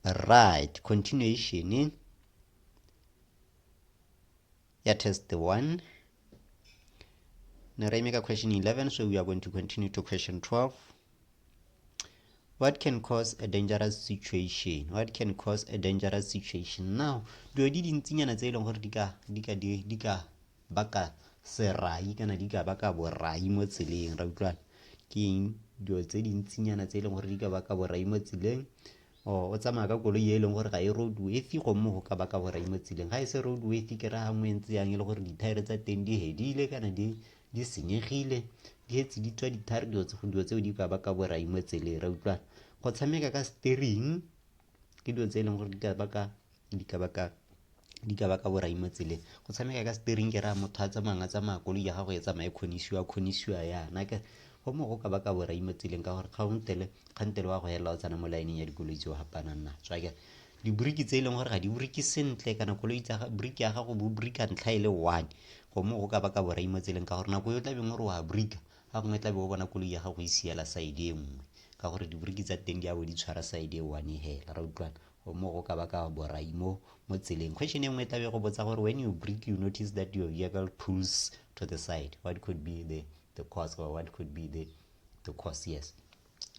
right continuation ya test 1 ne ra imeka question 11 so we are going to continue to question 12 what can cause a dangerous situation what can cause a dangerous situation now dilo di dintsinyana tse e leng gore di ka baka serai kana di ka baka borai mo tseleng ra utlwana ke eng dilo tse dintsinyana tse e leng gore di ka baka borai mo tseleng o tsamaya ka koloi e leng gore ga e road worthy gomme go ka baka borai mo tseleng ga e se road worthy ke ra gangwe ntse yang e le gore dithaere tsa teng di hedile kana di di senyegile di etse di tswa dithaere dilo tseo di ka baka borai mo tseleng ra utlwana go tshameka ka steering ke dilo tse e leng gore di ka baka di ka baka di ka baka borai mo tseleng go tshameka ka steering ke raya motho a tsamayang a tsamaya koloi ya gago e tsamaye kgonisiwa kgonisiwa yana ke go mo go ka baka borai mo tseleng ka gore kgantele kgantele wa go helela o tsena mo laeneng ya dikoloi tse o gapanang na tswa ke diboriki tse e leng gore ga di boriki sentle kana koloi tsa boriki ya gago bo borika ntlha e le one go mo go ka baka borai mo tseleng ka gore nako yo tlabeng o re wa borika ga gongwe tlabe o bona koloi ya gago e siela side e nngwe ka gore diboriki tsa teng di a bo di tshwara side e one hela ra utlwana O mo go ka baka borai mo mo tseleng. Question e nngwe e tlabe go botsa gore when you break you notice that your vehicle pulls to the side what could be the the cause or what could be the the cause yes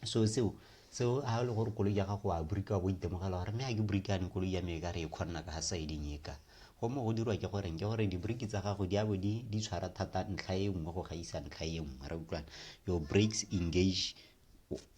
so seo seo ha le gore koloi ya gago a burika wa bo itemogela gore mme ga ke burikane koloi ya me ka re e kgonna ka ga siding e ka go mo go dirwa ke goreng ke gore dibriki tsa gago di abo di di tshwara thata ntlha e nngwe go gaisa ntlha e nngwe ra utlwana your breaks engage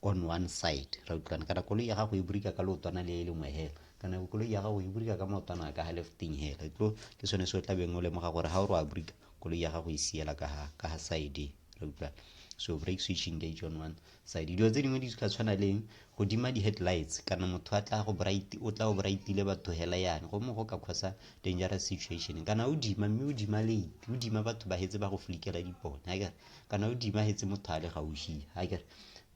on one side ra utlwana kana koloi ya gago e burika ka leotwana le e lengwe hela kana koloi ya gago e burika ka maotwana ka ga lefting hela tlo ke sone se o tla beng o lemoga gore ga o re wa burika koloi ya gago e siela ka ga ka ga side ra utlwana so break switch engage on one side dilo tse dingwe di ka tshwana leng go dima di-headlights kana motho a tla go bright o tla go brightile batho hela yane go mo go ka khosa dangerous situation kana o dima mme o dima late o dima batho ba hetse ba go flikela dipone ga kere kana o dimagetse motho a le gaushi a kere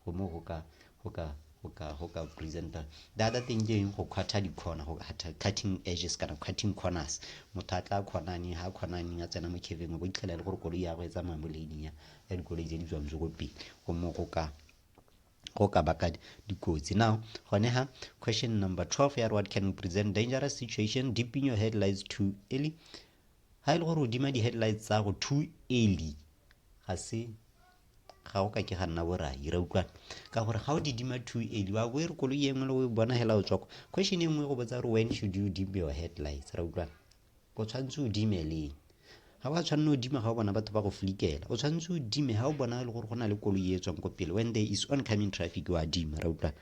go mo go ka go ka go ka go ka presenter the other thing ke eng go quarter di-corner go cutting edges kana cutting corners motho a tla kgonaneng ga kgonaneng a tsena mo caveng o bo itlhela e le gore koloi ya go e tsamaya mo laning ya ya dikoloi tse di tswang tse ko pele go mo go ka go ka baka dikotsi now gone ha question number 12 ya what can present dangerous situation dipping your headlights too early Ha e le gore o dima di-headlights tsa go too early ga se ga o ka ke ga nna borai ra utlwana ka gore ga o di dima too early wa bo e re koloi e nngwe le o e bona hela o tswako question e nngwe go botsa gore when should you dim your headlights ra utlwana o tshwanetse o dime leng ga wa tshwanela o dima ga o bona batho ba go flikela o tshwanetse o dime ga o bona e le gore go na le koloi e tswang ko pele when there is oncoming traffic wa dima ra utlwana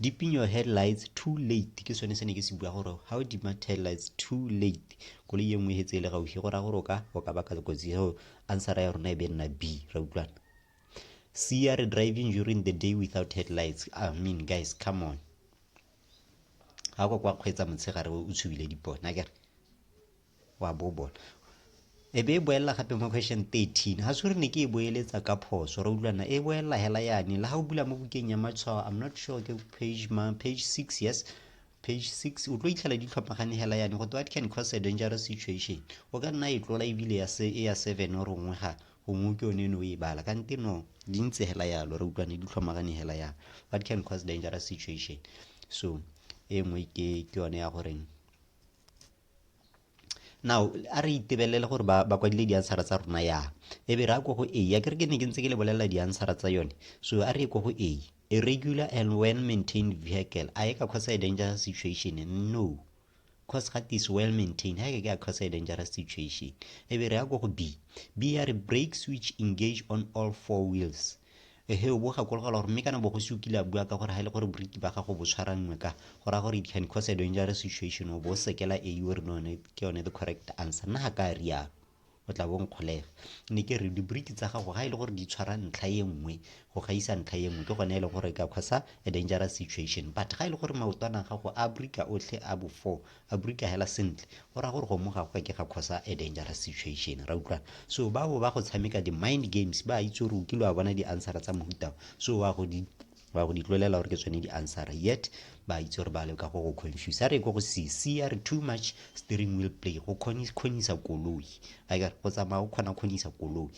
dipping your headlights too late ke sone se ne ke se bua gore ga o dima headlights too late koloi ye nngwe e tse e le gaufi go raya gore o ka o ka baka kotsi so answera ya rona e be nna b ra utlwana c ya re driving during the day without headlights i mean guys come on ga kwa kwa kgweetsa motshegare o tshubile dipone a kere wa bo bona e be e boelela gape mo question 13 ga se re ne ke e boeletsa ka phoso re utlwana e boelela hela yane le ga o bula mo bukeng ya matshwao i'm not sure ke page ma page 6 yes page 6 o tlo itlhela di tlhomagane hela yane go what can cause a dangerous situation o ka nna e tlola ebile ya se e ya 7 o rongwe ga gongwe ke yone no e bala ka nte no di ntse hela yalo re utlwane di tlhomagane hela ya what can cause dangerous situation so e nngwe ke yone ya goreng now a re itebelele gore ba ba kwadile di-answera tsa rona yang e be re a ko go a a kere ke ne ke ntse ke le bolelela di-answera tsa yone so a re ye ko go a a regular and well maintained vehicle a e ka cause a dangerous situation no cause ga is well maintained ha e ke a cause a dangerous situation e be re ya ko go b b ya re brake switch engage on all four wheels Ehe, o bo gakologela gore mme kana bogosi o kile a bua ka gore ga e le gore boriki ba gago bo tshwaranngwe ka go raya gore it can cause a dangerous situation o bo o sekela e o re none ke yone the correct answer nna ga ka rialo o tla bo nkgolega ne ke re diboriki tsa gago ga e le gore di tshwara ntlha e nngwe go gaisa ntlha e nngwe ke gone e le gore ka kgosa a dangerous situation but ga e le gore maotwana a gago a borika otlhe a bofo A Brita hela sentle. Go ra gore go mo gagwe ke ga khosa a dangerous situation. Ra utlwana. So ba bo ba go tshameka di mind games ba itse gore o kilo a bona di answer tsa mohuta. So wa go di wa go di tlolela gore ke tsone di answer. Yet ba itse gore ba le ka go go confuse. A re go go se se a re too much steering wheel play go khonisa koloi. A go tsamaya o khona khonisa koloi.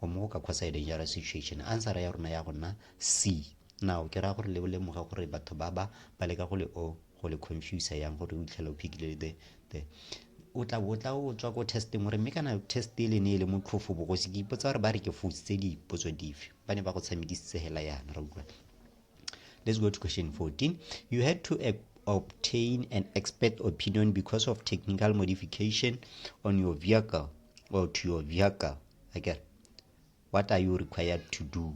o mo ka kgotsa e dangerous situation answera ya rona ya go nna c now ke raya gore le o lemoga gore batho ba ba ba leka go le o go le confuse yang gore o itlhela o phikile the the o tla o tla o tswa ko testing gore mme kana test e le ne e le motlhofo bogosi ke ipotsa gore ba re ke fositse dipotso dife ba ne ba go tshamekisitse hela yana ra utlwa let's go to question 14 you had to uh, obtain an expert opinion because of technical modification on your vehicle or to your vehicle akere what are you required to do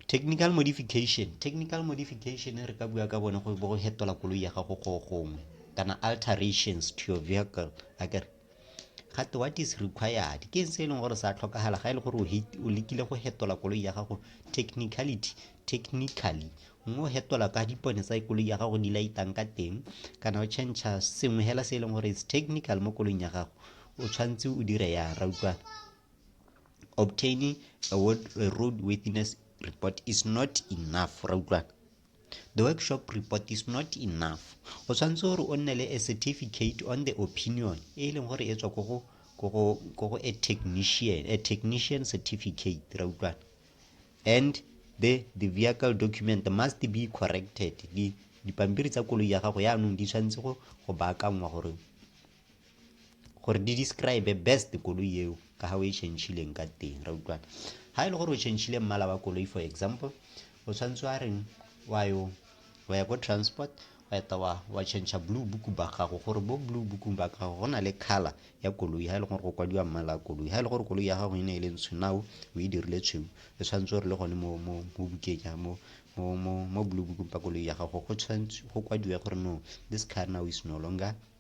technical modification technical modification re ka bua ka bone go bo go hetola koloi ya gago go gongwe kana alterations to your vehicle akere gate what is required ke se e leng gore sa tlhokagala ga e le gore o lekile go hetola koloi ya gago technicality technically mme o hetola ka dipone tsa koloi ya gago di laitang ka teng kana o change sengwe hela se e leng gore is technical mo koloing ya gago o tshwanetse o dire yang ra utlwana obtaining a, word, a road worthiness report is not enough ra utlwana the workshop report is not enough o tshwanetse gore o nne le a certificate on the opinion e e leng gore e tswa ko go a technician a technician certificate ra utlwana and the the vehicle document must be corrected dipampiri tsa koloi ya gago yaanong di tshwanetse go baakangwa gore gore di describe best koloi eo ka ga o e chanchileng ka teng ra utlwana ga e le gore o chanchile mmala wa koloi for example o tshwanetse wa reng wa yo wa ya ko transport wa eta wa wa chancha blue book ba gago gore bo blue book ba gago go na le color ya koloi ga e le gore go kwadiwa mmala wa koloi ga e le gore koloi ya gago e ne e le ntsho nao o e dirile tshweu e tshwanetse gore le gone mo mo mo bukeng ya mo mo mo mo blue book ba koloi ya gago go tshwanetse go kwadiwe gore no this car now is no longer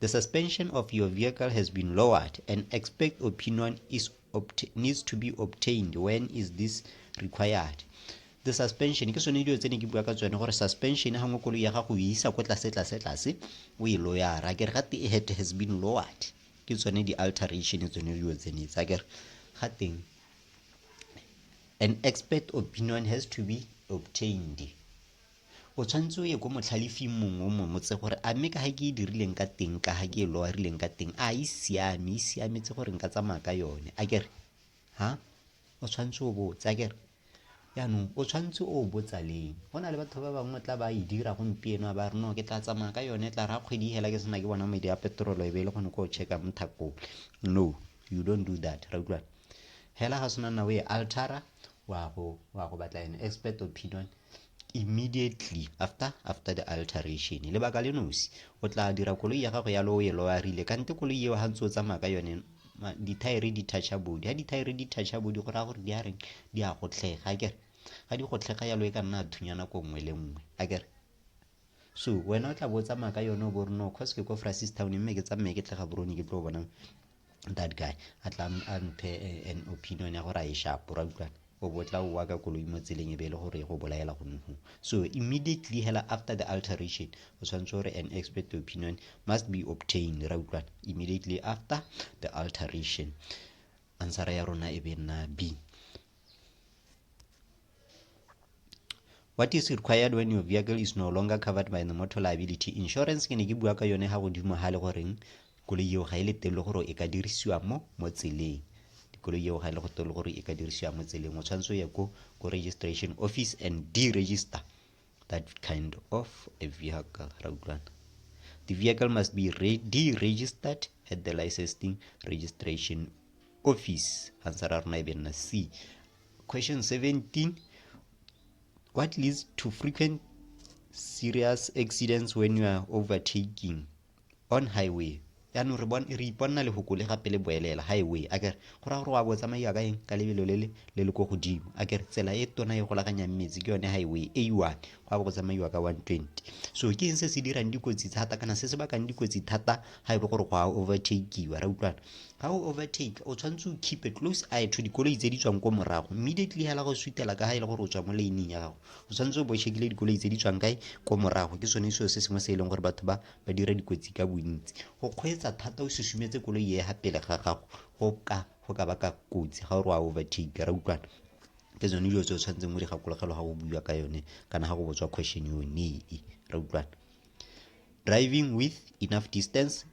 The suspension of your vehicle has been lowered. An expert opinion is needs to be obtained. When is this required? the suspension ke sone dilo tse ne ke bua ka tsone gore suspension ga ngwe koloi ya gago e isa ko tlase tlase tlase o e loyara kere ga tee head has been lowered ke tsone di-alteration tsone dilo tsene tsa kere ga teng an expert opinion has to be obtained O tshwanetse o ye ko motlhalefing mongwe o mongwe tse gore a mme ka ga ke e dirileng ka teng ka ga ke e loarileng ka teng a e siame e siametse gore nka tsamaya ka yone a kere ha o tshwanetse o botse a kere jaanong o tshwanetse o botsa leng go na le batho ba bangwe tla ba e dira gompieno a ba re no ke tla tsamaya ka yone tla ra kgwedi hela ke sena ke bona medi a petrolo e be e le gone ko checka mo thakong no you don't do that ra utlwana hela ga sena na o e altara wa go wa go batla an expert opinion immediately after after the alteration lebaka le nosi o tla dira koloi ya gago ya lo e loarile kante koloi eo ga ntse o tsamaya ka yone dithaere di toucha body ga dithaere di toucha body go raya gore di a reng di a gotlhega akere ga di gotlhega yalo e ka nna a thunya nako nngwe le nngwe akere so wena o tla bo o tsamaya ka yone o bo reno cause ke ko frasis town mme ke tsamaye ke tle ga borone ke tlo bonang that guy a tla a mphe eh, an opinion ya gore a e shapo ra utlwana o bo tla oa ka koloi mo tseleng e be e le gore e go bolaela go nogo so immediately hela after the alteration o tshwanetse gore an expert opinion must be obtained ra utlwana immediately after the alteration ansara ya rona e be nna b What is required when your vehicle is no longer covered by the motor liability insurance ke ne ke bua ka yone ga godimo ga le goreng koloi eo ga e le teng le gore e ka dirisiwa mo mo tseleng dikoloi eo ga e le go teng le gore e ka dirisiwa mo tseleng o tshwanetse o ye ko ko registration office and deregister that kind of a vehicle ra utlwana the vehicle must be deregistered at the licensing registration office answer ra rona e be nna c Question 17 What leads to frequent serious accidents when you are overtaking on highway? yaanong re re iponna lefoko le gape le boelela highway a kere go raya gore wa bo tsamaiwa ka eng ka lebelo le le le le ko godimo a kere tsela e tona e golaganyang metsi ke yone highway a one go a bo go tsamaiwa ka one twenty so ke eng se se dirang dikotsi thata kana se se bakang dikotsi thata ga e le gore go a overtakiwa ra utlwana ga o overtake o tshwanetse o keep a close eye to dikoloi tse di tswang ko morago immediately hela go sutela ka ga e le gore o tswa mo leineng ya gago o tshwanetse o bo shekile dikoloi tse di tswang kae ko morago ke sone seo se sengwe se e leng gore batho ba ba dira dikotsi ka bontsi go kgweetsa thata o susumetse koloi e ga pele ga gago go ka go ka baka kotsi ga o re wa overtake ra utlwana ke tsone dilo tse o tshwanetseng mo digakologelo ga o bua ka yone kana ga go botswa question yone e ra utlwana driving with enough distance